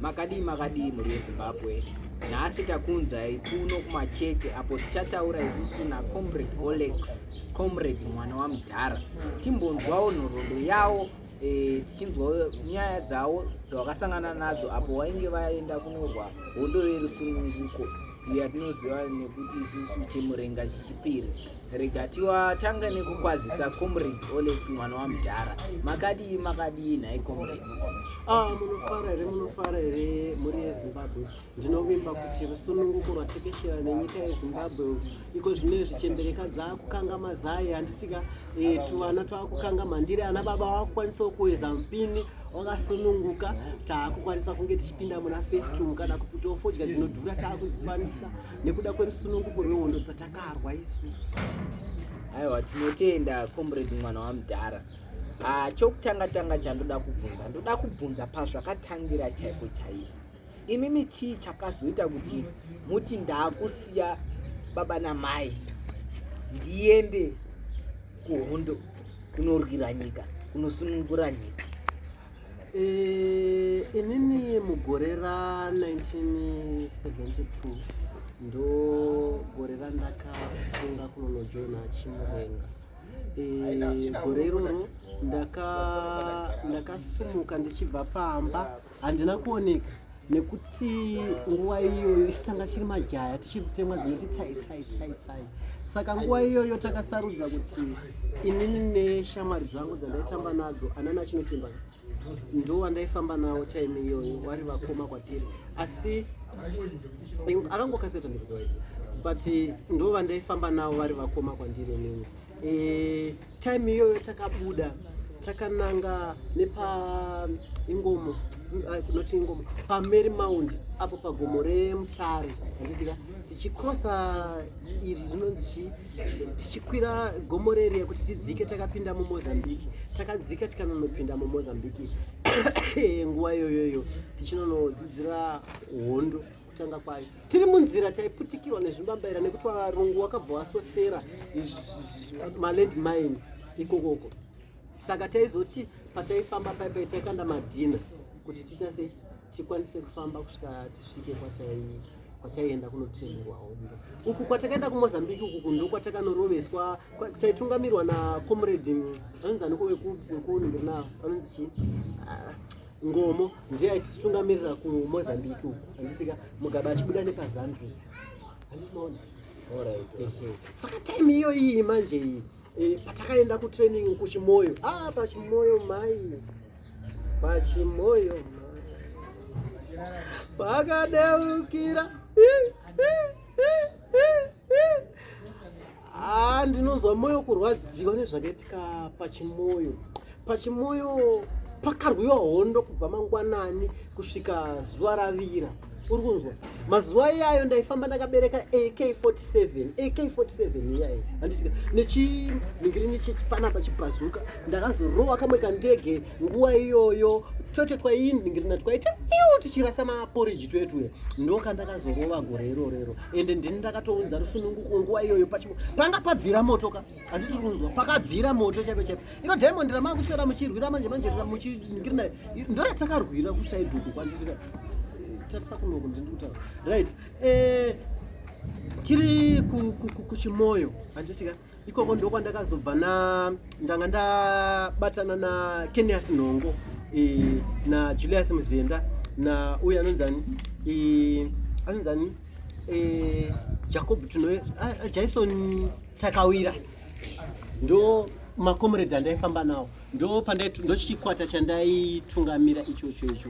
Makadii makadii mhuri yeZimbabwe, nhasi takunzai kuno kumacheke apo tichataura isusu naComrade Olex Comrade mwana wamudhara timbonzwawo nhoroondo yawo e, tichinzwawo nyaya dzawo dzavakasangana nadzo apo wainge vaenda kunorwa hondo yerusununguko iyo yatinoziva nekuti isusu chemurenga chechipiri Regatiwa tanga nekukwazisa comrade Olex mwana wamudhara. Makadii makadii nhai comrade? Ah, munofara here munofara here mhuri yeZimbabwe. Ndinovimba kuti rusununguko rwatekeshera nenyika yeZimbabwe iko zvino izvi chembereka dzaakukanga mazai handitika eh, tuvana twakukanga mandiri ana baba wakukwanisawo kuweza mpini wakasununguka taakukwanisa kunge tichipinda muna festum kana kuti ofodya dzinodhura taakudzikwanisa nekuda kwerusununguko rwehondo dzatakarwa isusu aiwa tinotenda comrade mwana wamudhara ah, chokutanga tanga chandoda kubvunza ndoda kubvunza pazvakatangira chaiko chaipo imimi chii chakazoita kuti muti ndaakusiya baba namai ndiende kuhondo kunorwira nyika kunosunungura nyika Eh, inini mugore ra 1972 ndo gore randakafunga kunonojoina chimurenga eh, gore iroro ndakasumuka ndichibva pamba handina kuoneka nekuti nguva iyoyo isu tanga chiri majaya tichiri kutemwa dzinoti tsai tsai tsai tsai saka nguva iyoyo takasarudza kuti inini neshamwari dzangu dzandaitamba nadzo anana chinochimba ndo wandaifamba nawo time iyoyo wari vakoma kwatiri asi akangokasira tandikuziva icho but ndo vandaifamba nawo vari vakoma kwandiri inini e, time iyoyo takabuda takananga nepa ingomo ah, not ingomo pamary mound apo pagomo remutare andidika tichikrosa iri rinonzi chii tichikwira gomo reriya kuti tidzike takapinda mumozambique takadzika tikanonopinda mumozambique nguva iyoyoyo tichinonodzidzira hondo kutanga kwayo tiri munzira taiputikirwa nezvimbambaira nekuti varungu wakabva wasosera maland mine ikokoko saka taizoti pataifamba paipai taikanda madhina kuti tiita sei tikwanise kufamba kusvika tisvike kwatai kwataienda kunotrainerwa hondo uku kwatakaenda kumozambiki uku kundo kwatakanoroveswa taitungamirirwa nacomrade anonzi aniko wekunhu ndiri navo anonzi chii ah, ngomo ndiye aititungamirira kumozambique uku anditika mugabe achibuda nepazambia anditinoona saka time iyo iyi manje iyi eh, patakaenda kutraining kuchimoyo ah, pachimoyo mai pachimoyo pakadeukira Ah, ndinonzwa moyo kurwadziwa nezvakaitika pachimoyo pachimoyo pakarwiwa hondo kubva mangwanani kusvika zuva ravira uri kunzwa mazuva iyayo ndaifamba ndakabereka ak47 ak47 iyayo handisika nechinhingirini chechipanapa chibhazuka ndakazorowa kamwe kandege nguva iyoyo twete twainhingirina twaita iu tichirasa maporiji twetuya ndokandakazorova gore irorero ende ndini ndakatounza rusununguko nguva iyoyo pachipo panga pabvira moto ka handi tiri kunzwa pakabvira moto chaipo chaipo iro diamond ramaa kuswera muchirwira manje manje muchiningiri nayo ndoyatakarwira kusaiduku kwandisika tarisa kunoko ndini kutaura right eh, tiri kuchimoyo handisika ikoko ndokwandakazobva na ndanga ndabatana na kenias nhongo e, na julius muzenda na uyu anonzani e, anonzani e, jacob tuno jaison takawira ndo makomrade andaifamba nawo ndo pandai ndochikwata chandaitungamira ichocho icho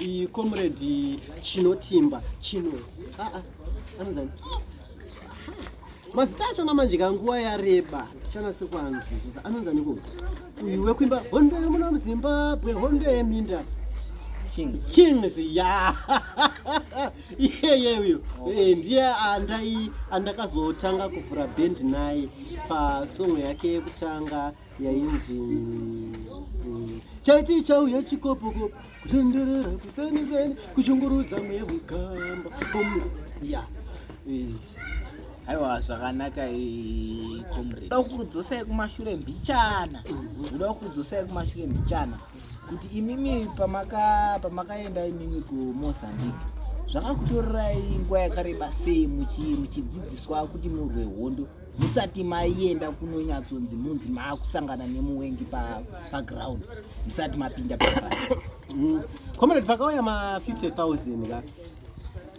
iyi comrade chinotimba chinozi ah, ah, anozani mazita achona manje kanguva yareba ndichanase kuanzwisisa anonzani ku uyu wekuimba hondo yemuna muzimbabwe hondo yeminda chings ya iyeye uyo oh. eh, ndiye andai andakazotanga kuvhura bhendi naye pasongo yake yekutanga yainzi mm, mm, chaiti chauya chikopokopo kutenderera kusenizeni kuchungurudza mweya wekamba ya aiwa zvakanaka comrade uda kukudzosai kumashure mbichana uda kukudzosai kumashure mbichana kuti imimi pamaka pamakaenda imimi kumozambique zvakakutorerai nguva yakareba sei muchidzidziswa kuti murwe hondo musati maienda kunonyatsonzi munzi maakusangana nemuwengi paground pa musati mapinda paa mm. comrade pakauya ma 50 000 ka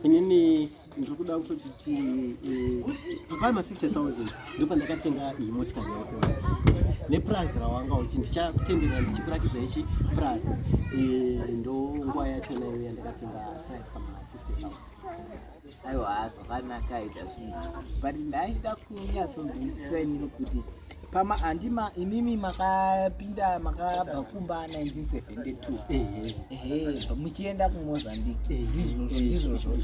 inini ndiri kuda kutoti ti eh, pakauya ma 50 000 ndo pandakatenga iyi motikari yako nepurazi rawanga uchi ndichakutendera ndichikurakidza ichi purazi eh, ndo nguva yachona iyo yandakatenga purazi pama 50 000 aiwa zvakanaka aita zvinhu but ndaida kunyatsonzwisisa inini kuti pama handima imimi makapinda makabva kumba 1972 muchienda kumozambique ndizvozvo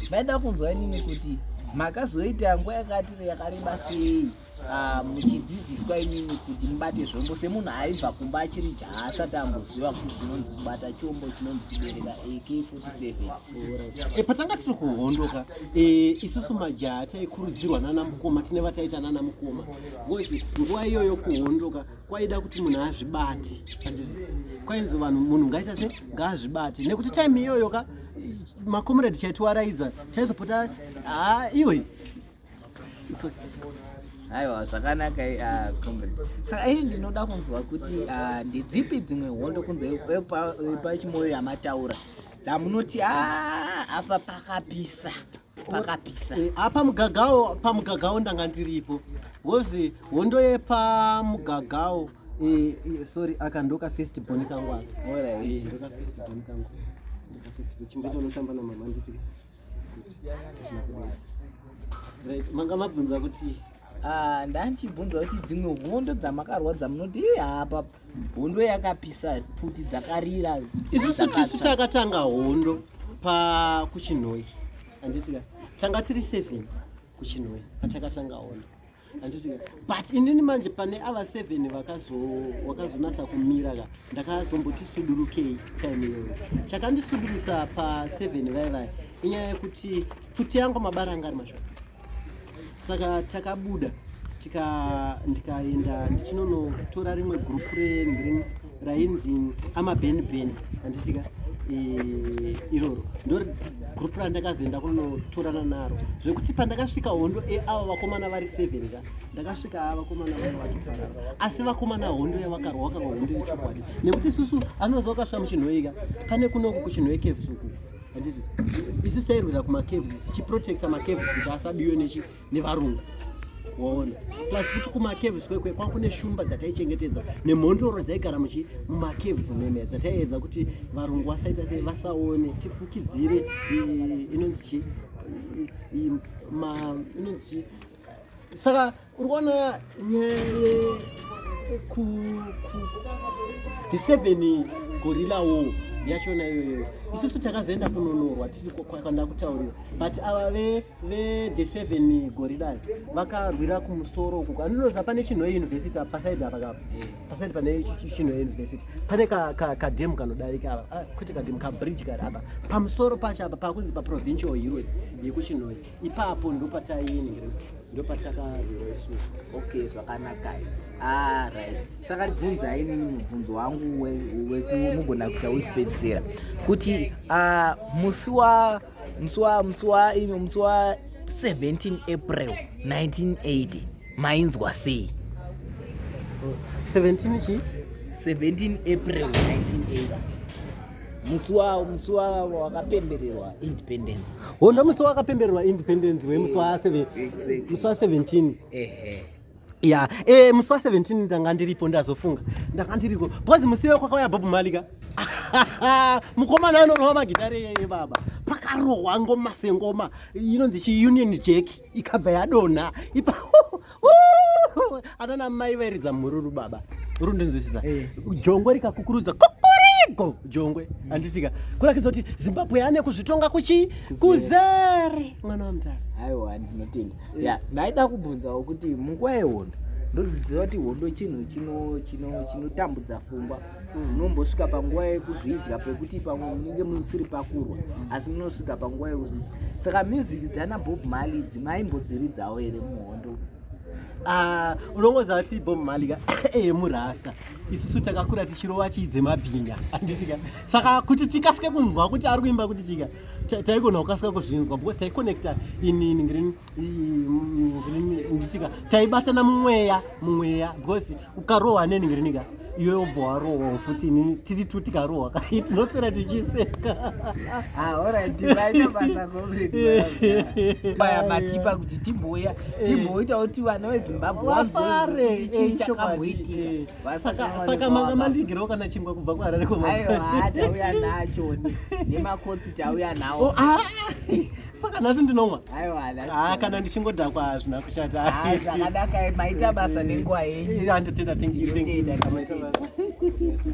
ndaida kunzwa inini kuti makazoita nguva yakati yakareba sei Ah, muchidzidziswa imimi kuti mubate zvombo semunhu aibva kumba achiri jaasati amboziva kuti chinonzi kubata chombo chinonzi kubereka ak47 e, eh, patanga tiri kuhondoka e, isusu majaha taikurudzirwa nana mukoma tine vataita nana mukoma bcause nguva iyoyo kuhondoka kwaida kuti munhu azvibate kwainzi vanhu munhu ngaita se ngaazvibate nekuti time iyoyo ka makomeredi chaitiwaraidza taizopota haa ah, iwe aiwa zvakanaka ah, comrade saka ini ndinoda kunzwa kuti ah, ndedzipi dzimwe hondo kunze pachimoyo yamataura dzamunoti a ah, apa pakapisa pakapisa eh, apa mugagawo pamugagawo ndanga ndiripo wozi hondo yepamugagawo eh, eh, sorry aka ndoka first boni kangu aka ndoka first boni kangu ndoka first boni chimbecho unotamba namama nditi manga mabvunza kuti ah, ndandichibvunza kuti dzimwe hondo dzamakarwa dzamunoti eh, apa hondo yakapisa pfuti dzakarira isusu tisu takatanga hondo pakuchinhoi anditi tanga tiri seven kuchinhoi patakatanga hondo but inini manje pane ava seven vakazonatsa kumira ka ndakazomboti sudurukei time iyoyo chakandisudurutsa paseven vai vai inyaya yekuti pfuti yangu mabara anga ari mashoko saka takabuda ndikaenda ndichinonotora rimwe gurupu regreen rainzi amabenben andisika eh, iroro ndo group randakazoenda kunotorana naro zvekuti pandakasvika hondo eh, ava vakomana vari seven ka ndakasvika ava vakomana vari vatofarara asi vakomana hondo yavakarwa wakarwa hondo yechokwadi nekuti isusu anoza wakasvika muchinhoika pane kunoku kuchinhoikevsuku handiti isu tairwira kumacaves tichiprotecta macaves kuti asabiwe nechi nevarungu waona plus futi kumacaves kwekwe kwanga kune shumba dzataichengetedza nemhondoro dzaigara muchi mumacaves meme dzataiedza kuti varungu vasaita sei vasaone tifukidzire inonzi chi inonzi chi saka uri kuona ku the seven gorilla war yachona iyoyo isusu takazoenda kunonorwa tiri kwakanda kutaurira but ava ve ve the seven gorillas vakarwira kumusoro uko andinoza pane chinhoe university pasaidi apa kapa pasaidi pane chinhoe university pane kademu kanodarika apa ah, kwete kademu kabridge kari apa pamusoro pacho apa pakunzi paprovincial heroes yekuchinhoe ipapo ndopataiingira ndopatakarwira isusu okay zvakanakai ah, right saka ndibvunza inini mubvunzo wangu wekumugona kuita wekupedzisira kuti ah, musi wa musi wa musi wa musi wa 17 april 1980 mainzwa sei 17 chi 17 april 1980 musi wawo musi wawo wakapembererwa independence honda musi wakapembererwa independence wemusi wa 7 Exactly. musi wa 17 ehe ya eh musi wa 17 ndanga ndiripo ndazofunga ndanga ndiriko because musi iwe kwakauya bob malika mukomana anorohwa magitare yeye baba pakarohwa ngoma sengoma inonzi chiunion jack ikabva yadonha ipa anana mai vairidza mhururu baba uri ndinzwisisa eh. jongwe rikakukurudza kokorigo jongwe mm. andisika kurakidza kuti zimbabwe yane kuzvitonga kuchi kuzere mwana wamutara aiwa ndinotenda eh. ya ndaida kubvunzawo kuti munguva yehondo ndoziziva kuti hondo chinhu chinotambudza fungwa munombosvika panguva yekuzvidya pekuti pamwe munenge musiri pakurwa asi munosvika panguva yekuzvidya saka music dzana bob mali idzi maimbodziridzawo here muhondo ah, unongoziva kuti bob mali ka ee murasta isusu takakura tichirova chii dzemabhinga anditika saka kuti tikasike kunzwa kuti ari kuimba kuti chika taigona kukasika kuzvinzwa because taiconnecta inini ndichika taibatana mumweya mumweya because ukarohwa neni ngirinika iwe ubva warohwa futi inini tiri tu tikarohwa kai tinoswera tichiseka matipa kuti timboya timboitawo ti vana vezimbabwe wafare eh, eh, eh, chakamboitika saka manga mandigirawo kana chingwa kubva kuharare kwemaiwa tauya nacho nemakotsi tauya nawo oh, ah! saka nhasi ndinomwa ah, kana ndichingodhakwa hazvina kushatazvakadaka ah, maita basa nenguva yenyu andotenda thank you thank you